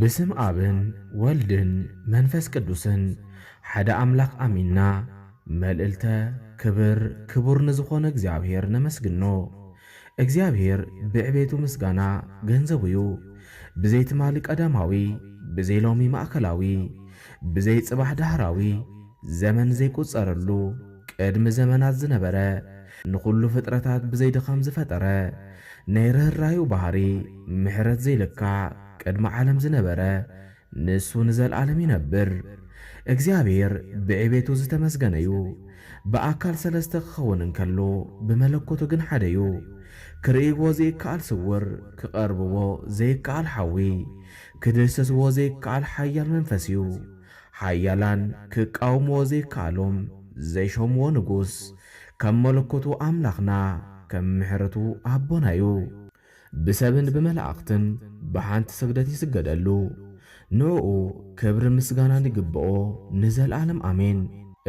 ብስም ኣብን ወልድን መንፈስ ቅዱስን ሓደ ኣምላኽ ኣሚንና መልእልተ ክብር ክቡር ንዝኾነ እግዚኣብሔር ነመስግኖ እግዚኣብሔር ብዕቤቱ ምስጋና ገንዘቡዩ ብዘይ ትማሊ ቀዳማዊ ብዘይ ሎሚ ማእከላዊ ብዘይ ጽባሕ ዳህራዊ ዘመን ዘይቁጸረሉ ቅድሚ ዘመናት ዝነበረ ንኹሉ ፍጥረታት ብዘይ ድኻም ዝፈጠረ ናይ ርህራሄኡ ባህሪ ምሕረት ዘይልካዕ ቅድሚ ዓለም ዝነበረ ንሱ ንዘልኣለም ይነብር እግዚኣብሔር ብዕቤቱ ዝተመስገነ ዩ ብኣካል ሰለስተ ክኸውን እንከሎ ብመለኮቱ ግን ሓደ ዩ ክርእይዎ ዝይከኣል ስውር ክቐርብዎ ዘይከኣል ሓዊ ክድህሰስዎ ዘይከኣል ሓያል መንፈስ እዩ። ሓያላን ክቃወምዎ ዘይከኣሎም ዘይሾምዎ ንጉስ። ከም መለኮቱ ኣምላኽና ከም ምሕረቱ ኣቦና እዩ። ብሰብን ብመላእኽትን ብሓንቲ ስግደት ይስገደሉ። ንእኡ ክብርን ምስጋናን ይግብኦ ንዘልኣለም ኣሜን።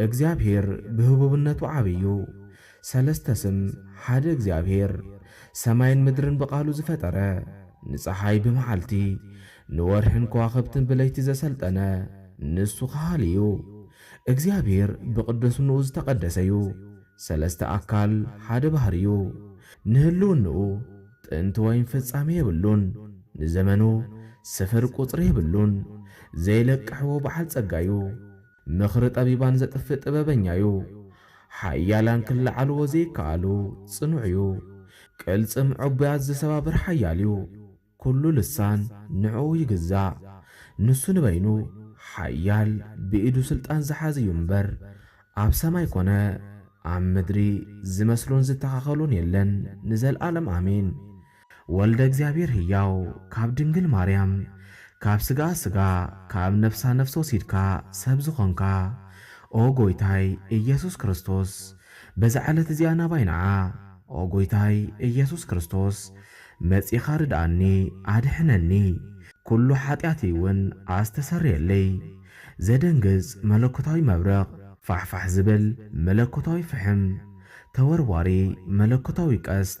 እግዚኣብሔር ብህቡብነቱ ዓብይ እዩ። ሰለስተ ስም ሓደ እግዚኣብሔር ሰማይን ምድርን ብቃሉ ዝፈጠረ ንፀሓይ ብመዓልቲ ንወርሕን ከዋኽብትን ብለይቲ ዘሰልጠነ ንሱ ከሃሊ እዩ እግዚኣብሔር ብቅድስንኡ ዝተቀደሰ እዩ ሰለስተ ኣካል ሓደ ባህሪ እዩ ንህልውንኡ ጥንቲ ወይም ፍፃሜ የብሉን ንዘመኑ ስፍር ቁፅሪ የብሉን ዘይለቅሕዎ በዓል ፀጋ እዩ ምኽሪ ጠቢባን ዘጥፍእ ጥበበኛ እዩ። ሓያላን ክለዓልዎ ዘይከኣሉ ጽኑዕ እዩ። ቅልጽም ዕቡያት ዝሰባብር ሓያል እዩ። ኵሉ ልሳን ንዕኡ ይግዛእ። ንሱ ንበይኑ ሓያል ብኢዱ ስልጣን ዝሓዘ እዩ እምበር፣ ኣብ ሰማይ ኰነ ኣብ ምድሪ ዝመስሎን ዝተኻኸሎን የለን። ንዘለኣለም ኣሜን። ወልደ እግዚኣብሔር ህያው ካብ ድንግል ማርያም ካብ ስጋኣ ስጋ ካብ ነፍሳ ነፍሲ ወሲድካ ሰብ ዝኾንካ ኦ ጎይታይ እየሱስ ክርስቶስ በዛ ዕለት እዚኣ ናባይ ንዓ ኦ ጎይታይ እየሱስ ክርስቶስ መጺኻ ርድኣኒ ኣድሕነኒ ኩሉ ሓጢኣተይ እውን ኣስተሰርየለይ ዘደንግጽ መለኮታዊ መብረቕ ፋሕፋሕ ዝብል መለኮታዊ ፍሕም ተወርዋሪ መለኮታዊ ቀስት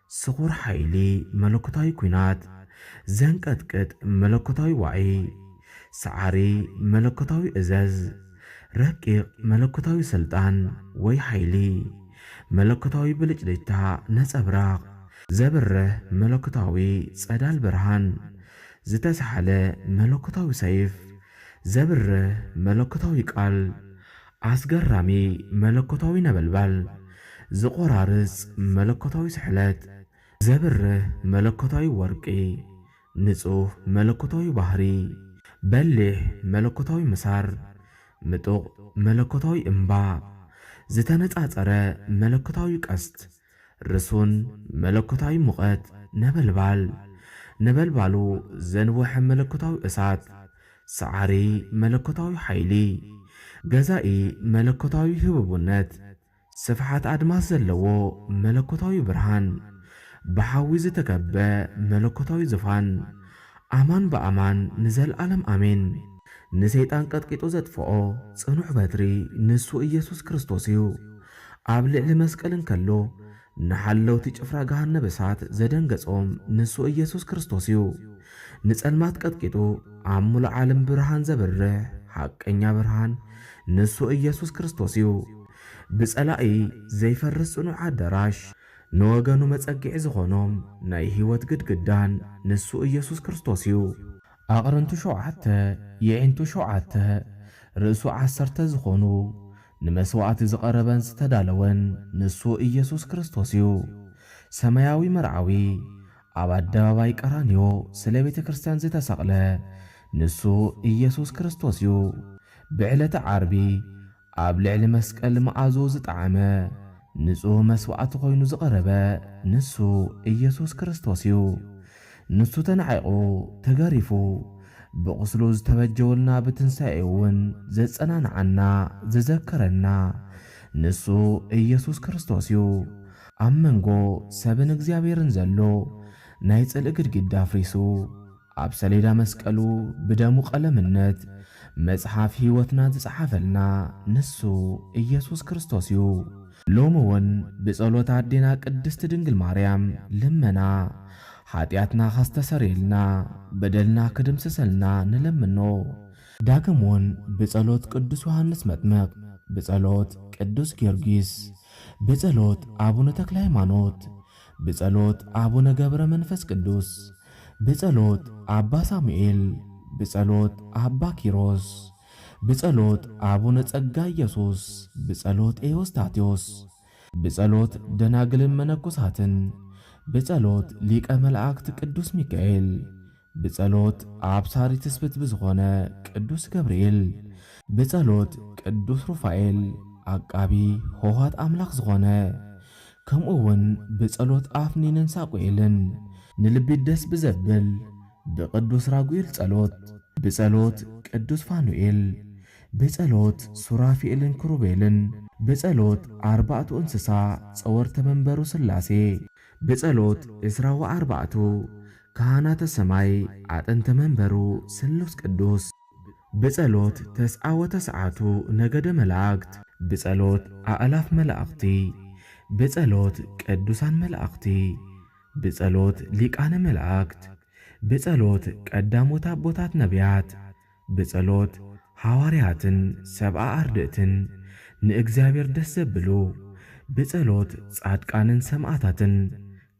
ስኹር ሓይሊ መለኮታዊ ኲናት፣ ዘንቀጥቅጥ መለኮታዊ ዋዒ፣ ሰዓሪ መለኮታዊ እዘዝ፣ ረቂቕ መለኮታዊ ስልጣን ወይ ሓይሊ፣ መለኮታዊ ብልጭልጭታ ነጸብራቕ፣ ዘብርህ መለኮታዊ ጸዳል ብርሃን፣ ዝተሳሕለ መለኮታዊ ሰይፍ፣ ዘብርህ መለኮታዊ ቃል፣ ኣስገራሚ መለኮታዊ ነበልባል፣ ዚቖራርጽ መለኮታዊ ስሕለት፣ ዘብርህ መለኮታዊ ወርቂ፣ ንጹህ መለኮታዊ ባህሪ፣ በሊሕ መለኮታዊ ምሳር፣ ምጡቕ መለኮታዊ እምባ፣ ዝተነጻጸረ መለኮታዊ ቀስት፣ ርሱን መለኮታዊ ሙቐት ነበልባል፣ ነበልባሉ ዘንወሐ መለኮታዊ እሳት፣ ሰዓሪ መለኮታዊ ሓይሊ፣ ገዛኢ መለኮታዊ ህቡብነት፣ ስፍሓት ኣድማስ ዘለዎ መለኮታዊ ብርሃን፣ ብሓዊ ዝተከበ መለኮታዊ ዝፋን፣ ኣማን ብኣማን ንዘልኣለም ኣሜን። ንሰይጣን ቀጥቂጡ ዘጥፍኦ ጽኑዕ በትሪ ንሱ እየሱስ ክርስቶስ እዩ። ኣብ ልዕሊ መስቀል እንከሎ ንሓለውቲ ጭፍራ ገሃነብ እሳት ዘደንገጾም ንሱ እየሱስ ክርስቶስ እዩ። ንጸልማት ቀጥቂጡ ኣብ ምሉእ ዓለም ብርሃን ዘብርህ ሓቀኛ ብርሃን ንሱ እየሱስ ክርስቶስ እዩ። ብጸላኢ ዘይፈርስ ጽኑዕ ኣዳራሽ። ንወገኑ መጸግዒ ዝኾኖም ናይ ሕይወት ግድግዳን ንሱ ኢየሱስ ክርስቶስ እዩ። ኣቕርንቱ ሾብዓተ፣ የዒንቱ ሾብዓተ፣ ርእሱ ዓሰርተ ዝኾኑ፣ ንመሥዋዕቲ ዝቐረበን ዝተዳለወን ንሱ ኢየሱስ ክርስቶስ እዩ። ሰማያዊ መርዓዊ ኣብ ኣደባባይ ቀራንዮ ስለ ቤተ ክርስቲያን ዝተሰቕለ ንሱ ኢየሱስ ክርስቶስ እዩ። ብዕለተ ዓርቢ፣ ኣብ ልዕሊ መስቀል መኣዝኡ ዝጠዓመ ንጹህ መስዋዕቲ ኮይኑ ዝቐረበ ንሱ ኢየሱስ ክርስቶስ እዩ። ንሱ ተናዒቑ፣ ተገሪፉ፣ ብቑስሉ ዝተበጀወልና ብትንሳኤኡ እውን ዘጸናንዓና፣ ዘዘከረና ንሱ ኢየሱስ ክርስቶስ እዩ። ኣብ መንጎ ሰብን እግዚኣብሔርን ዘሎ ናይ ጽልኢ ግድግዳ ኣፍሪሱ፣ ኣብ ሰሌዳ መስቀሉ ብደሙ ቀለምነት መጽሓፍ ሕይወትና ዝጸሓፈልና ንሱ ኢየሱስ ክርስቶስ እዩ። ሎሚውን ብጸሎት ኣዴና ቅድስት ድንግል ማርያም ልመና ኃጢኣትና ከስተሰርየልና በደልና ክድምስሰልና ንለምኖ። ዳግምውን ብጸሎት ቅዱስ ዮሓንስ መጥምቅ፣ ብጸሎት ቅዱስ ጊዮርጊስ፣ ብጸሎት ኣቡነ ተክለ ሃይማኖት፣ ብጸሎት ኣቡነ ገብረ መንፈስ ቅዱስ ብጸሎት ኣባ ሳሙኤል ብጸሎት ኣባ ኪሮስ ብጸሎት ኣቡነ ጸጋ ኢየሱስ ብጸሎት ኤዎስታቴዎስ ብጸሎት ደናግልን መነኮሳትን ብጸሎት ሊቀ መላእክት ቅዱስ ሚካኤል ብጸሎት ኣብሳሪ ትስብእት ብዝኾነ ቅዱስ ገብርኤል፣ ብጸሎት ቅዱስ ሩፋኤል ዓቃቢ ሆኋት ኣምላኽ ዝኾነ፣ ከምኡ እውን ብጸሎት ኣፍኒንን ሳቁኤልን ንልቢ ደስ ብዘብል ብቅዱስ ራጉኤል ጸሎት፣ ብጸሎት ቅዱስ ፋኑኤል፣ ብጸሎት ሱራፊኤልን ክሩቤልን፣ ብጸሎት ኣርባእቱ እንስሳ ጸወርተ መንበሩ ሥላሴ፣ ብጸሎት ዕስራ ወኣርባዕቱ ካህናተ ሰማይ ኣጥንተ መንበሩ ሥሉስ ቅዱስ ብጸሎት ተስዓ ወተስዓቱ ነገደ መላእክት ብጸሎት ኣእላፍ መላእኽቲ ብጸሎት ቅዱሳን መላእኽቲ ብጸሎት ሊቃነ መላእክት ብጸሎት ቀዳሞት ኣቦታት ነቢያት ብጸሎት ሓዋርያትን ሰብኣ ኣርድእትን ንእግዚኣብሔር ደስ ዘብሉ፣ ብጸሎት ጻድቃንን ሰማእታትን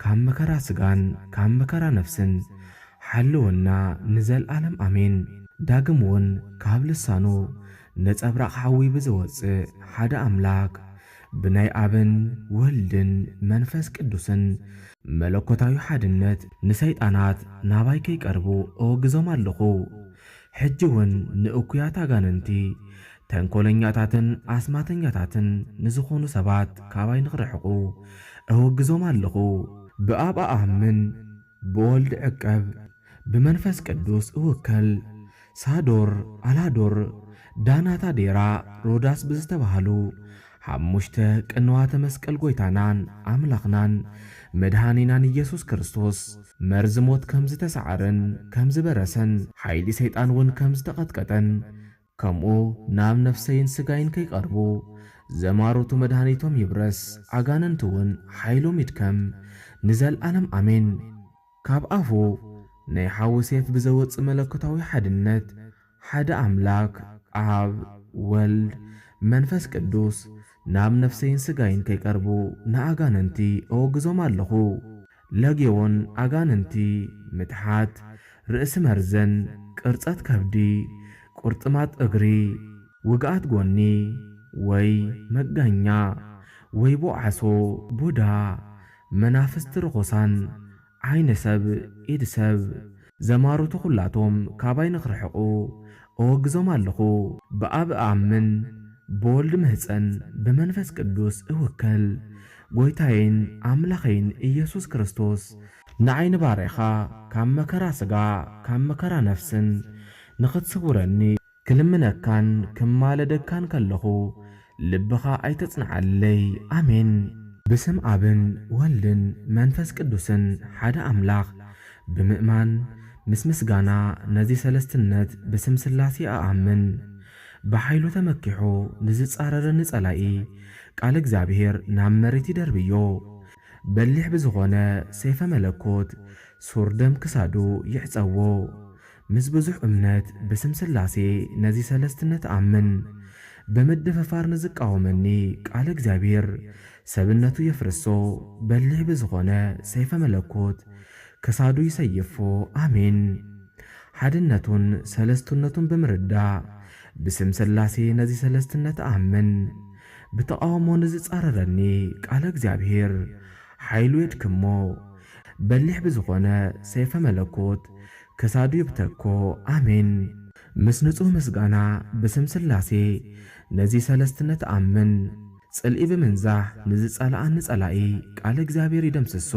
ካብ መከራ ሥጋን ካብ መከራ ነፍስን ሓልወና ንዘልዓለም ኣሜን። ዳግም ውን ካብ ልሳኑ ነጸብራቕ ሓዊ ብዝወጽእ ሓደ ኣምላክ ብናይ ኣብን ወልድን መንፈስ ቅዱስን መለኮታዊ ሓድነት ንሰይጣናት ናባይ ከይቀርቡ እወግዞም ኣሎኹ። ሕጂውን ንእኩያት ኣጋንንቲ፣ ተንኮለኛታትን ኣስማተኛታትን ንዝኾኑ ሰባት ካባይ ንክርሕቁ እወግዞም ኣሎኹ። ብኣብ እኣምን። ብወልድ ዕቀብ ብመንፈስ ቅዱስ እውከል ሳዶር ኣላዶር ዳናት ኣዴራ ሮዳስ ብዝተባህሉ ሓሙሽተ ቅንዋተ መስቀል ጎይታናን ኣምላኽናን መድኃኒናን ኢየሱስ ክርስቶስ መርዚ ሞት ከምዝተሳዕረን ከምዝበረሰን ሓይሊ ሰይጣን እውን ከምዝተቐጥቀጠን ከምኡ ናብ ነፍሰይን ስጋይን ከይቀርቡ ዘማሩቱ መድሃኒቶም ይብረስ ኣጋንንቲ ውን ሓይሎም ይድከም ንዘልኣለም ኣሜን ካብ ኣፉ ናይ ሓዊ ሴፍ ብዘወጽእ መለኮታዊ ሓድነት ሓደ ኣምላክ ኣብ ወልድ መንፈስ ቅዱስ ናብ ነፍሰይን ስጋይን ከይቀርቡ ንኣጋንንቲ እወግዞም ኣሎኹ። ለጌዎን ኣጋንንቲ፣ ምትሓት ርእሲ መርዘን፣ ቅርጸት ከብዲ፣ ቁርጥማጥ እግሪ፣ ውግኣት ጎኒ ወይ መጋኛ፣ ወይቦ ዓሶ፣ ቡዳ፣ መናፍስቲ ርኹሳን፣ ዓይኒ ሰብ ኢድ ሰብ ዘማሩቱ ኩላቶም ካባይ ንክርሕቁ እወግዞም ኣለኩ ብኣብ እኣምን ብወልድ እምህጸን ብመንፈስ ቅዱስ እውከል ጎይታየይን ኣምላከይን እየሱስ ክርስቶስ ንዓይ ንባርያካ ካብ መከራ ስጋ ካብ መከራ ነፍስን ንክትስውረኒ ክልምነካን ክማለደካን ከለኹ ልብኻ ኣይተጽንዓለይ። ኣሜን። ብስም ኣብን ወልድን መንፈስ ቅዱስን ሓደ ኣምላኽ ብምእማን ምስ ምስጋና ነዚ ሰለስትነት ብስም ሥላሴ እኣምን። ብኃይሉ ተመኪሑ ንዝጻረረኒ ጸላኢ ቃል እግዚኣብሔር ናብ መሬት ይደርብዮ። በሊሕ ብዝኾነ ሰይፈ መለኮት ሱር ደም ክሳዱ ይዕጸዎ። ምስ ብዙሕ እምነት ብስም ሥላሴ ነዚ ሠለስትነት እኣምን። ብምድፍፋር ንዝቃወመኒ ቃለ እግዚኣብሔር ሰብነቱ የፍርሶ በሊሕ ብዝኾነ ሰይፈ መለኮት ክሳዱ ይሰይፎ ኣሜን። ሓድነቱን ሠለስትነቱን ብምርዳእ ብስም ሥላሴ ነዚ ሠለስትነት እኣምን። ብተቃውሞ ንዝጻረረኒ ቃለ እግዚኣብሔር ሓይሉ የድክሞ በሊሕ ብዝኾነ ሰይፈ መለኮት ክሳዱ ይብተኮ ኣሜን ምስ ንጹህ ምስጋና ብስም ስላሴ ነዚ ሰለስትነት ኣምን ጽልኢ ብምንዛሕ ንዝጸልኣኒ ጸላኢ ቃል እግዚኣብሔር ይደምስሶ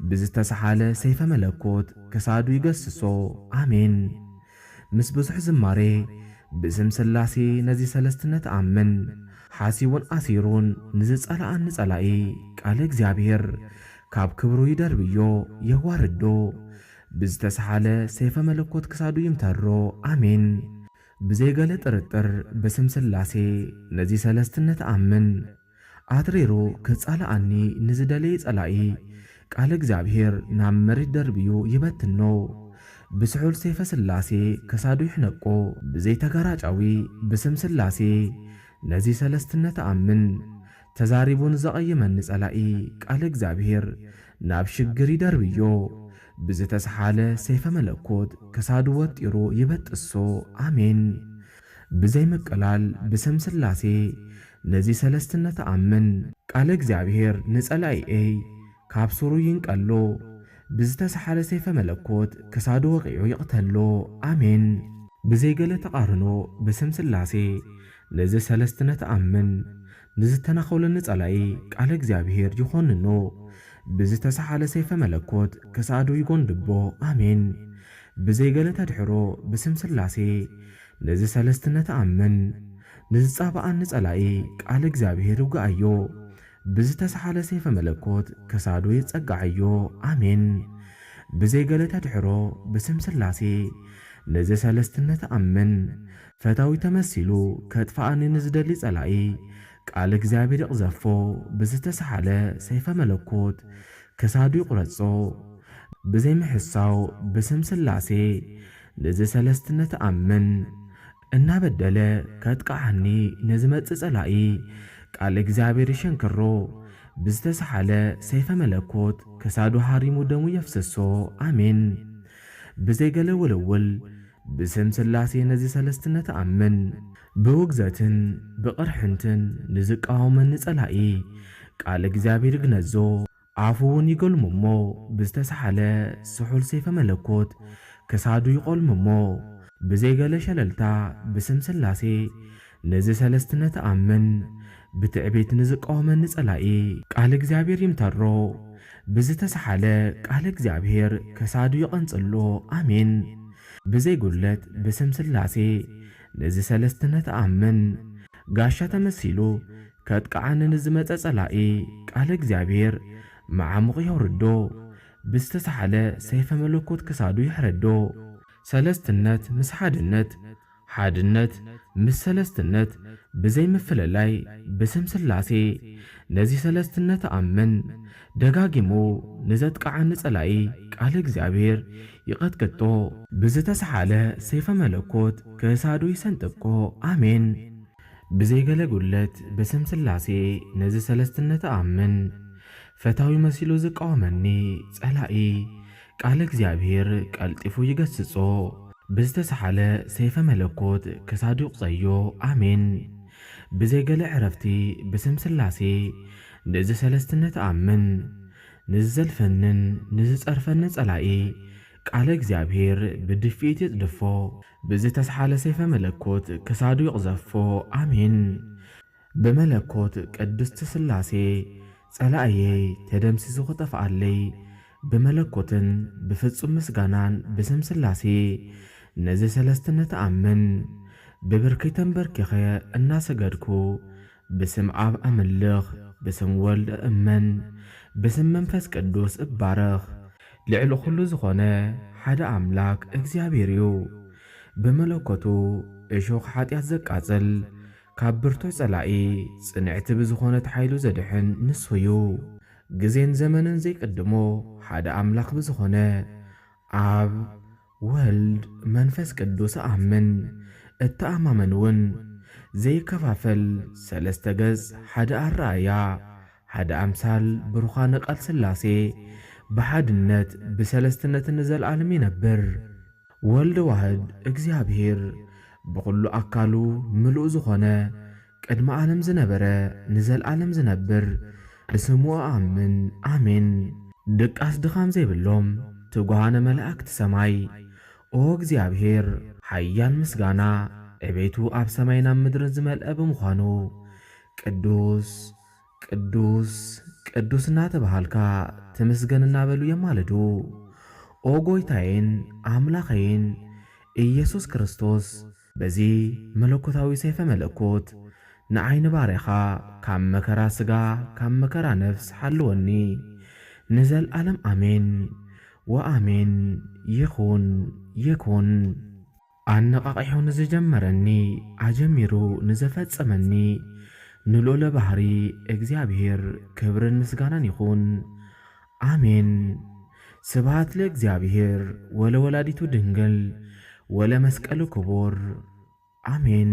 ብዝተሰሓለ ሰይፈ መለኮት ክሳዱ ይገስሶ ኣሜን ምስ ብዙሕ ዝማሬ ብስም ስላሴ ነዚ ሰለስትነት ኣምን ሓሲቡን ኣሲሩን ንዝጸልኣኒ ጸላኢ ቃል እግዚኣብሔር ካብ ክብሩ ይደርብዮ የዋርዶ ብዝተሰሃለ ሰይፈ መለኮት ክሳዱ ይምተሮ ኣሜን ብዘይ ገለ ጥርጥር ብስም ስላሴ ነዚ ሰለስትነት እኣምን ኣትሪሩ ክጻላኣኒ ንዝደለየ ጸላኢ ቃል እግዚኣብሔር ናብ መሬት ደርብዩ ይበትኖ ብስሑል ሰይፈ ስላሴ ክሳዱ ይሕነቆ ብዘይ ተጋራጫዊ ብስም ስላሴ ነዚ ሰለስትነት እኣምን ተዛሪቡ ንዘቐይመኒ ጸላኢ ቃል እግዚኣብሄር ናብ ሽግር ይደርብዮ ብዝተስሓለ ሰይፈ መለኮት ክሳዱ ወጢሩ ይበጥሶ ኣሜን ብዘይ ምቅላል ብስም ስላሴ ነዚ ሰለስትነት እኣምን። ቃለ እግዚኣብሄር ንጸላኢኤይ ካብ ሱሩ ይንቀሎ ብዝተስሓለ ሰይፈ መለኮት ክሳዱ ወቒዑ ይቕተሎ ኣሜን። ብዘይ ገለ ተቓርኖ ብስም ስላሴ ነዚ ሠለስትነት እኣምን። ንዝተናዀለኒ ጸላኢ ቃለ እግዚኣብሔር ይዀንኖ፣ ብዝተሰሓለ ሰይፈ መለኮት ክሳዱ ይጐንድቦ። ኣሜን። ብዘይ ገለ ተድኅሮ ብስም ሥላሴ ነዚ ሠለስትነት እኣምን። ንዝጻብኣኒ ጸላኢ ቃለ እግዚኣብሔር ይውግኣዮ፣ ብዝተሰሓለ ሰይፈ መለኮት ክሳዱ የጸግዓዮ። ኣሜን። ብዘይ ገለ ተድኅሮ ብስም ሥላሴ ነዚ ሠለስትነት እኣምን። ፈታዊ ተመሲሉ ከጥፍኣኒ ንዝደሊ ጸላኢ ቃል እግዚኣብሔር ይቕዘፎ ብዝተሰሓለ ሰይፈ መለኮት ክሳዱ ይቑረጾ ብዘይ ምሕሳው ብስም ስላሴ ንዚ ሰለስትነት እኣምን እናበደለ ከጥቅዓኒ ንዝመጽእ ጸላኢ ቃል እግዚኣብሔር ይሸንክሮ ብዝተሰሓለ ሰይፈ መለኮት ክሳዱ ሃሪሙ ደሙ የፍስሶ ኣሜን ብዘይ ገለ ውልውል ብስም ሥላሴ ነዚ ሠለስትነት እኣምን። ብውግዘትን ብቕርሕንትን ንዚቃወመኒ ጸላኢ፣ ቃል እግዚኣብሔር ይግነዞ፣ ኣፉውን ይገልሞ እሞ ብዝተሳሕለ ስሑል ሰይፈ መለኮት ክሳዱ ይቖልምሞ። ብዘይ ገለ ሸለልታ ብስም ሥላሴ ነዚ ሠለስትነት ኣምን ብትዕቢት ንዝቃወመኒ ጸላኢ ቃል እግዚኣብሔር ይምተሮ ብዝተሰሓለ ቃል እግዚኣብሔር ከሳዱ ይቐንጽሎ ኣሜን ብዘይ ጉድለት ብስም ሥላሴ ነዚ ሠለስትነት ኣምን ጋሻ ተመሲሉ ከጥቅዓኒ ንዝመጸ ጸላኢ ቃል እግዚኣብሔር መዓሙቕ የውርዶ ብዝተሰሓለ ሰይፈ መለኮት ክሳዱ ይሕረዶ። ሠለስትነት ምስ ሓድነት ሓድነት ምስ ሰለስትነት ብዘይ ምፍልላይ ብስም ስላሴ ነዚ ሰለስትነት ኣምን ደጋጊሙ ንዘጥቅዓኒ ጸላኢ ቃል እግዚኣብሔር ይቀጥቅጦ። ብዝተሰሓለ ሰይፈ መለኮት ክሳዱ ይሰንጥቆ ኣሜን። ብዘይ ገለ ጉድለት ብስም ስላሴ ነዚ ሰለስትነት ኣምን ፈታዊ መሲሉ ዝቃወመኒ ጸላኢ ቃል እግዚኣብሔር ቀልጢፉ ይገስጾ ብዝተሳሓለ ሰይፈ መለኮት ክሳዱ ይቁጸዮ ኣሜን ብዘይ ገለ ዕረፍቲ ብስም ስላሴ ንእዚ ሰለስትነት እኣምን ንዝዘልፈንን ንዝጸርፈንን ጸላኢ ቃለ እግዚኣብሔር ብድፊኢት ይጽድፎ ብዝተሳሓለ ሰይፈ መለኮት ክሳዱ ይቅዘፎ ኣሜን ብመለኮት ቅድስት ሥላሴ ጸላእየይ ተደምሲሱ ክጠፍኣለይ ብመለኮትን ብፍጹም ምስጋናን ብስም ሥላሴ ነዚ ሠለስትነት ኣምን ብብርኪ ተንበርኪኸ እናሰገድኩ ብስም ኣብ ኣምልኽ ብስም ወልድ እእመን ብስም መንፈስ ቅዱስ እባረኽ። ልዕሊ ኹሉ ዝኾነ ሓደ ኣምላክ እግዚኣብሔር እዩ ብመለኮቱ እሾኽ ኃጢኣት ዘቃጽል ካብ ብርቱዕ ጸላኢ ጽንዕቲ ብዝኾነት ሓይሉ ዘድሕን ንሱ እዩ። ግዜን ዘመንን ዘይቅድሞ ሓደ ኣምላኽ ብዝኾነ ኣብ፣ ወልድ፣ መንፈስ ቅዱስ እኣምን እተኣማመን እውን ዘይከፋፈል ሰለስተ ገጽ ሓደ ኣረኣእያ ሓደ ኣምሳል ብሩኻነ ቃል ሥላሴ ብሓድነት ብሠለስትነት ንዘለዓለም ይነብር። ወልድ ዋህድ እግዚኣብሔር ብኹሉ ኣካሉ ምሉእ ዝኾነ ቅድሚ ዓለም ዝነበረ ንዘልኣለም ዝነብር ብስሙ እኣምን ኣሜን። ድቃስ ድኻም ዘይብሎም ትጉሃነ መላእክት ሰማይ ኦ እግዚኣብሔር ሓያል ምስጋና ዕቤቱ ኣብ ሰማይን ኣብ ምድርን ዝመልኣ ብምዃኑ ቅዱስ ቅዱስ ቅዱስ እናተብሃልካ ትምስገን እናበሉ የማልዱ። ኦ ጎይታዬን ኣምላኸዬን ኢየሱስ ክርስቶስ በዚ መለኮታዊ ሰይፈ መለኮት ንዓይ ንባርያኻ ካብ መከራ ሥጋ ካብ መከራ ነፍስ ሓልወኒ ንዘልዓለም ኣሜን ወኣሜን ይኹን ይኩን። ኣነቓቒሑ ንዝጀመረኒ ኣጀሚሩ ንዘፈጸመኒ ንልኡለ ባህሪ እግዚኣብሔር ክብርን ምስጋናን ይኹን ኣሜን ስብሃት ለእግዚኣብሔር ወለወላዲቱ ድንግል ወለመስቀሉ ክቡር ኣሜን።